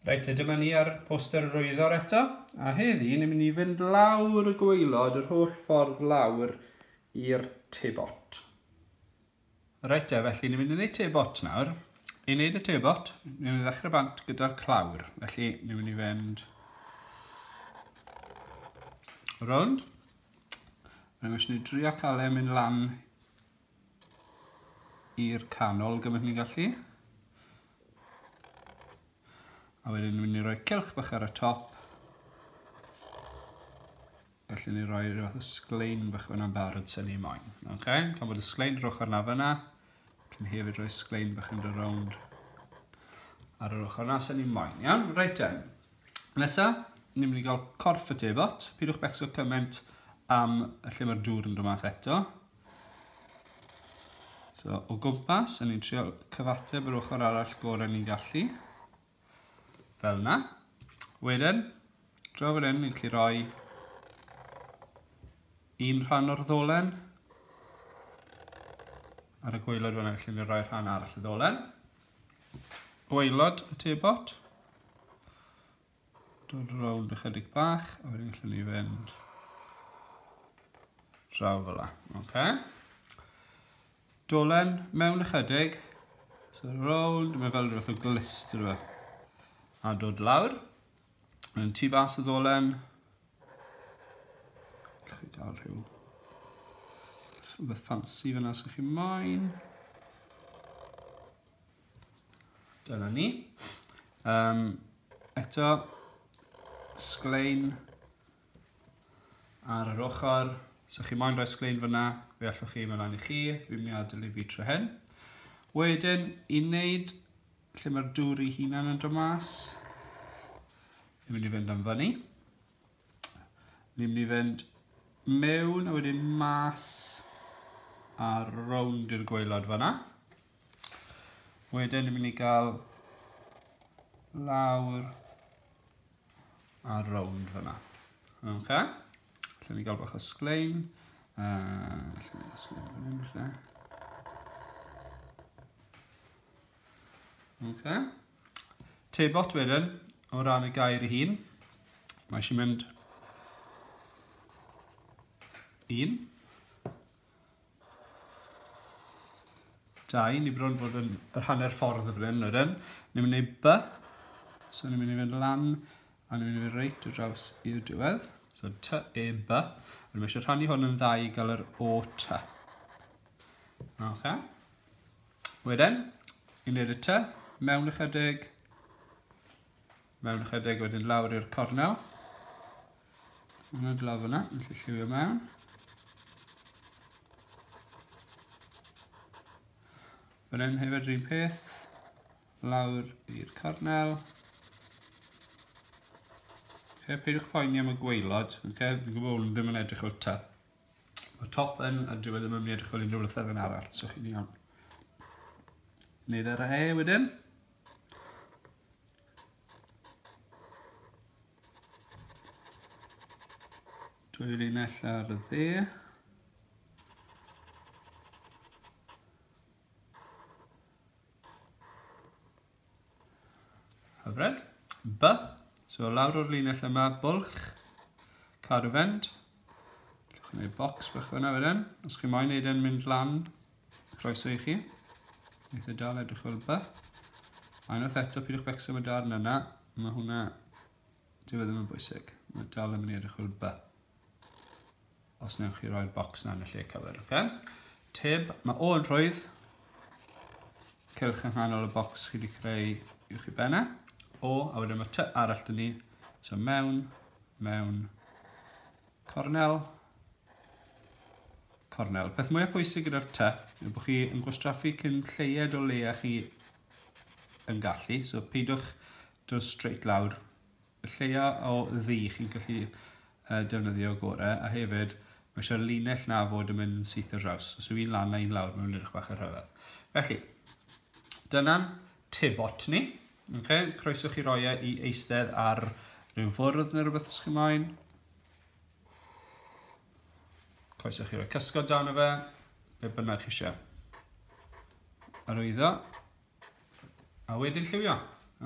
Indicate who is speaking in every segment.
Speaker 1: Reit, te dyma ni ar poster yr oeddor eto, a heddi ni'n mynd i fynd lawr y gweilod yr holl ffordd lawr i'r tebot. Reit te, felly ni'n mynd i wneud tebot nawr. I wneud y tebot, ni'n mynd i ddechrau bant gyda'r clawr. Felly ni'n mynd i fynd rownd. Rwy'n mynd i drio cael e mynd lan i'r canol gymaint ni'n gallu. A wedyn ni'n mynd i roi cilch bach ar y top. Felly ni'n rhoi rhywbeth o sglein bach fyna'n barod sy'n ni moyn. Okay? Gan bod y sglein roch arna fyna, cyn hefyd rhoi sglein bach yn dy rownd ar yr ochr na sy'n ni moyn. Iawn? Reit then. Nesa, ni'n mynd i gael corff y tebot. Pidwch becso cymaint am lle mae'r dŵr yn dod mas eto. So, o gwmpas, yn ni'n trio cyfateb yr ochr arall gorau ni'n gallu. Fel yna. Wedyn, draw fan hyn, ni'n gallu rhoi un rhan o'r ddolen. Ar y gweilod fan hyn, ni'n rhoi rhan arall y ddolen. Gweilod y tebot. Dod rownd ychydig bach, a wedyn gallwn ni fynd draw fel la. Okay. Dolen mewn ychydig, so rownd, mae fel rhywbeth o glist rhywbeth. A dod lawr, yn tu fas y ddolen, chi gael rhyw rhywbeth ffansi fyna sy'n chi moyn. Dyna ni. Um, eto, sglein ar yr ochr. So chi moyn rhoi sglein fyna, fe allwch chi mewn i chi, fi'n mynd i adael i fi trwy hyn. Wedyn, i wneud lle mae'r dŵr i hunan yn dod mas, fi'n mynd i fynd am fyny. Fi'n mynd i fynd mewn a wedyn mas a rownd i'r gweilod fyna. Wedyn ni'n mynd i gael lawr a rownd fyna. Ok? Lle ni gael bach o sglein. Uh, lle ni gael sglein fan hyn falle. Ok? Tebot wedyn, o ran y gair ei hun. Mae eisiau mynd un. Da, ni bron bod yn yr hanner ffordd y bryn, ydyn. Ni'n mynd i by, so ni'n mynd i fynd lan, a ni'n mynd i fynd reit o draws i'r diwedd. So ty e by, a ni'n eisiau rhannu hwn yn dda i gael yr o ty. Ok. Wedyn, i wneud y ty, mewn ychydig, mewn ychydig wedyn lawr i'r cornel. Yn y glaf yna, yn lle lliwio mewn. Fan hyn hefyd yr un peth, lawr i'r cornel. Fe peidiwch poeni am y gweilod, okay? fi'n gwybod bod nhw ddim yn edrych o'r ta. Mae top yn a dyw e ddim yn mynd i edrych fel unrhyw lythyren arall, so chi'n iawn. Wneud ar e wedyn. Dwy linell ar y dde. Hyfryd. B. So lawr o'r linell yma, bwlch, cadw fynd. Llwch yn ei bocs bach fyna wedyn. Os chi moyn neud e'n mynd lan, Croeso i chi. Eitha da, fe edrych fel ba. A unwaith eto, pidwch becso am y darn yna. Mae hwnna... Dyw e ddim yn bwysig. Mae dal yn mynd i edrych fel ba. Os newch chi roi'r bocs yna yn y lle cyfer, oce? Okay? Tib, mae o yn rhwydd. Cylch yng nghanol y bocs chi wedi creu i'w chi benna. O, a wedyn mae ty arall dyn ni. So mewn, mewn, Cornel. Cornel. Peth mwyaf pwysig gyda'r ty yw bod chi yn gwastraffu cyn lleied o leia chi yn gallu. So peidiwch dod straight lawr. Y lleia o ddi chi'n gallu uh, defnyddio gore a hefyd mae eisiau linell na fod yn mynd syth y draws. Os yw un lan a un lawr mae'n mynd edrych bach yn rhyfedd. Felly, dyna'n Te Botany. Ok, croeso chi roi e i eistedd ar rhyw fwrdd neu rhywbeth os chi moyn. Croeso chi roi cysgod dan o fe, be bynnag chi eisiau. Arwyddo. A wedyn lliwio.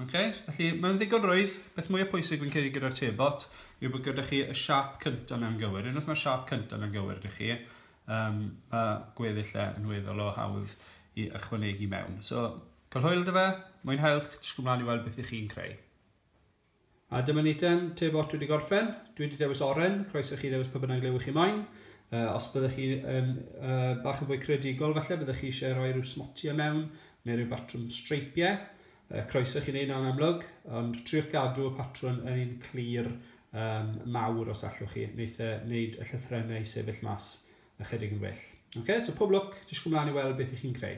Speaker 1: Okay? Felly, mae'n ddigon rwydd. Beth mwy o pwysig fi'n credu gyda'r tebot yw bod gyda chi y siap cyntaf na'n gywir. Unwaith mae'r siap cyntaf na'n gywir ydych chi, um, mae gweddill e yn weddol o hawdd i ychwanegu mewn. So, cael hwyl dy fe, mwynhewch, disgwyl mlaen i weld beth ych chi'n creu. A dyma ni ten, te bot wedi gorffen, dwi wedi dewis oren, croeso chi ddewis pa bynnag lew chi moyn. Uh, os byddwch chi um, uh, bach yn fwy credigol, falle byddwch chi eisiau rhoi rhyw smotiau mewn, neu rhyw batrwm streipiau. Yy, croeso i chi wneud na'n amlwg, ond triwch gadw y patrwn yn un clir um, mawr os allwch chi, wneud, e, wneud y llythrennau i sefyll mas ychydig yn well. Ok, so pob lwc, jyst gwmlaen i weld beth i chi'n creu.